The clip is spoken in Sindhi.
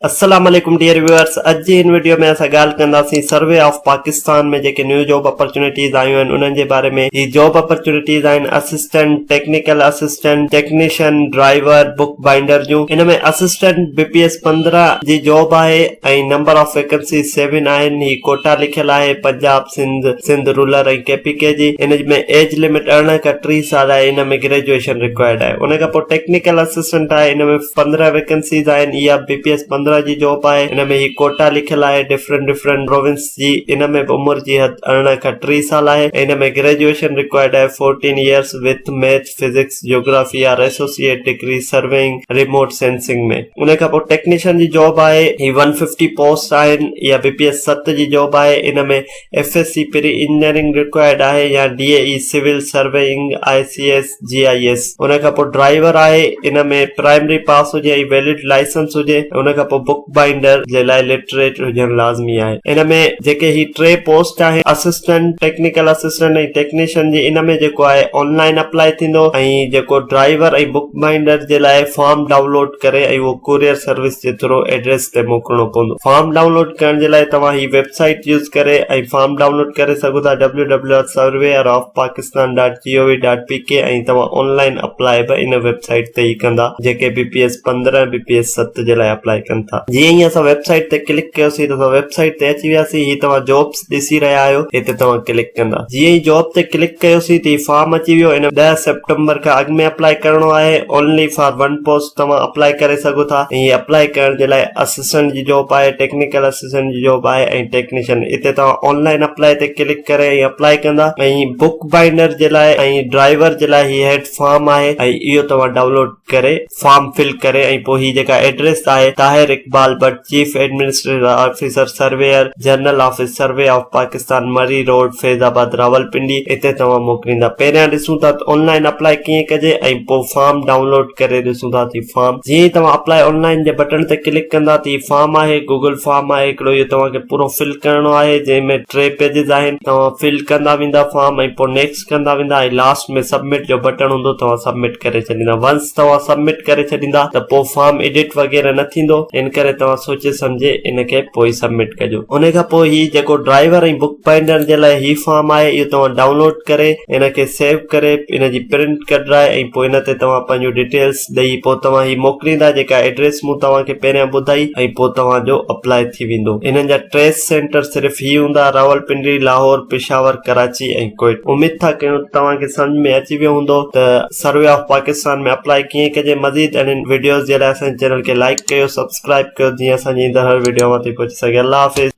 السلام عليڪم ڊيئر ويوئرس اڄ جي هن وڊيو ۾ اسان ڳالهه ڪنداسين سروي آف پاڪستان ۾ جيڪي نيو جاب اپرچونيٽيز آيون آهن انهن جي باري ۾ هي جاب اپرچونيٽيز آهن assistant technical assistant technician driver book binder جون ان ۾ اسسٽنٽ بي پي ايس پندرهن جي جاب آهي ۽ نمبر آف ويڪنسي سيون آهن هي ڪوٽا لکيل آهي Punjab Sindh Sindh rural ۽ K P K جي ان ۾ ايج لمٽ ارڙهن کان ٽيهه سال آهي ان ۾ گريجوئيشن رڪوائرڊ آهي ان کان پوء ٽيڪنيڪل اسسٽنٽ آهي ان ۾ پندرهن ويڪنسيز آهن اها بي پي ايس پندرهن جي جاب آهي ان ۾ هي ڪوٽا لکيل آهي ڊفرنٽ ڊفرنٽ پروونس جي ان ۾ به عمر جي حد ارڙهن کان ٽيهه سال آهي ۽ ان ۾ گريجوئيشن رڪوائرڊ آهي fourteen years with math physics geography or associate degree surveying remote sensing ۾ ان کان پوء ٽيڪنيشن جي جاب آهي هي ون ففٽي پوسٽ آهن اها بي پي ايس ست جي جاب آهي ان ۾ F S C pre engineering required آهي يا D A E civil surveying I C S G I S ان کان پوء ڊرائيور آهي ان ۾ پرائمري پاس هجي ۽ ويلڊ لائسنس هجي ۽ ان کان پوء بڪ بائنڊر جي لاء لٽريٽ هجڻ لازمي آهي ان ۾ جيڪي هي ٽي پوسٽ آهن اسسٽنٽ ٽيڪنيڪل اسسٽنٽ ۽ ٽيڪنيشن جي ان ۾ جيڪو آهي آن لائن اپلائي ٿيندو ۽ جيڪو ڊرائيور ۽ بڪ بائنڊر جي لاء فارم ڊائونلوڊ ڪري ۽ اهو ڪوريئر سروس جي ٿرو ايڊريس تي موڪلڻو پوندو. فارم ڊائونلوڊ ڪرڻ جي لاء توهان هي ويب سائيٽ يوز ڪري ۽ فارم ڊائونلوڊ ڪري سگهو ٿا www.surveyoroffpakistan.gov.pk ۽ توهان آن لائين اپلاء به ان ويب سائيٽ تي ئي ڪندا جيڪي بي پي ايس پندرهن ۽ بي پي ايس ست جي لاء اپلاء ڪن ٿا جيئن ئي اسان ويب سائيٽ تي ڪلڪ ڪيوسين ته اسان ويب سائيٽ تي اچي وياسين هي توهان جابس ڏسي رهيا آهيو هتي توهان ڪلڪ ڪندا جيئن ئي جاب تي ڪلڪ ڪيوسين ته هي فارم اچي ويو ان ڏهه سيپٽمبر کان اڳ ۾ اپلاء ڪرڻو آهي اونلي فار ون پوسٽ توهان اپلاء ڪري سگهو ٿا ۽ هي اپلاء ڪرڻ جي لاء اسسٽنٽ جي جاب آهي ٽيڪنيڪل اسسٽنٽ جي جاب آهي ۽ ٽيڪنيشن اتي توهان آن لائن اپلائي تي ڪلڪ ڪري ۽ اپلائي ڪندا ۽ بوڪ بائنڊر جي لاء ۽ ڊرائيور جي لاء هي هيڊ فارم آهي ۽ اهو توهان ڊائونلوڊ ڪري فارم فل ڪري ۽ پوء هي جيڪا ايڊريس آهي Tahir Iqbal Butt chief administrative officer surveyor general office survey of Pakistan Murree road Faizabad Rawalpindi اتي توهان موڪليندا پهريان ڏسون ٿا ته آن لائن اپلائي ڪيئن ڪجي ۽ پوء فارم ڊائونلوڊ ڪري ڏسون ٿا ته هي فارم جيئن ئي توهان اپلائي آن لائن جي بٽڻ تي ڪلڪ ڪندا ته هي فارم آهي گوگل فارم آهي هڪڙو اهو توهان کي پورو فل ڪرڻو آهي جنهن ۾ ٽي پيجز آهن توهان فل ڪندا ويندا فارم ۽ پوء نيڪسٽ ڪندا ويندا ۽ لاسٽ ۾ سبمٽ جو بٽڻ هوندو توهان سبمٽ ڪري ڇڏيندا ونس توهان سبمٽ ڪري ڇڏيندا ته پوء فارم ايڊٽ وغيره نه ٿيندو ان ڪري توهان سوچي سمجهي ان کي پوء سبمٽ ڪجو ان کان پوء هي جيڪو ڊرائيور ۽ بڪ بائنڊر جي لاء هي فارم آهي اهو توهان ڊائونلوڊ ڪري ان کي سيو ڪري ان جي پرنٽ ڪڍرائي ۽ پوء ان تي توهان پنهنجو ڊيٽيلز ڏئي پوء توهان هي موڪليندا جيڪا ايڊريس مون توهان کي پهريان ٻڌائي ۽ پوء توهان جو اپلاء ٿي ويندو انهن جا ٽريس سينٽر صرف هي هوندا راولپنڊي لاهور پشاور ڪراچي ۽ ڪوئٽا اميد ٿا ڪيون ته توهان کي سمجهه ۾ اچي ويو هوندو ته سروي آف پاڪستان ۾ اپلاء ڪيئن ڪجي مزيد اهڙين وڊيوز جي لاء اسان جي چينل کي لائڪ ڪيو سبسڪرائب ڪيو جيئن اسان جي ايندڙ هر وڊيو اوهان تائين پهچي سگهي الله حافظ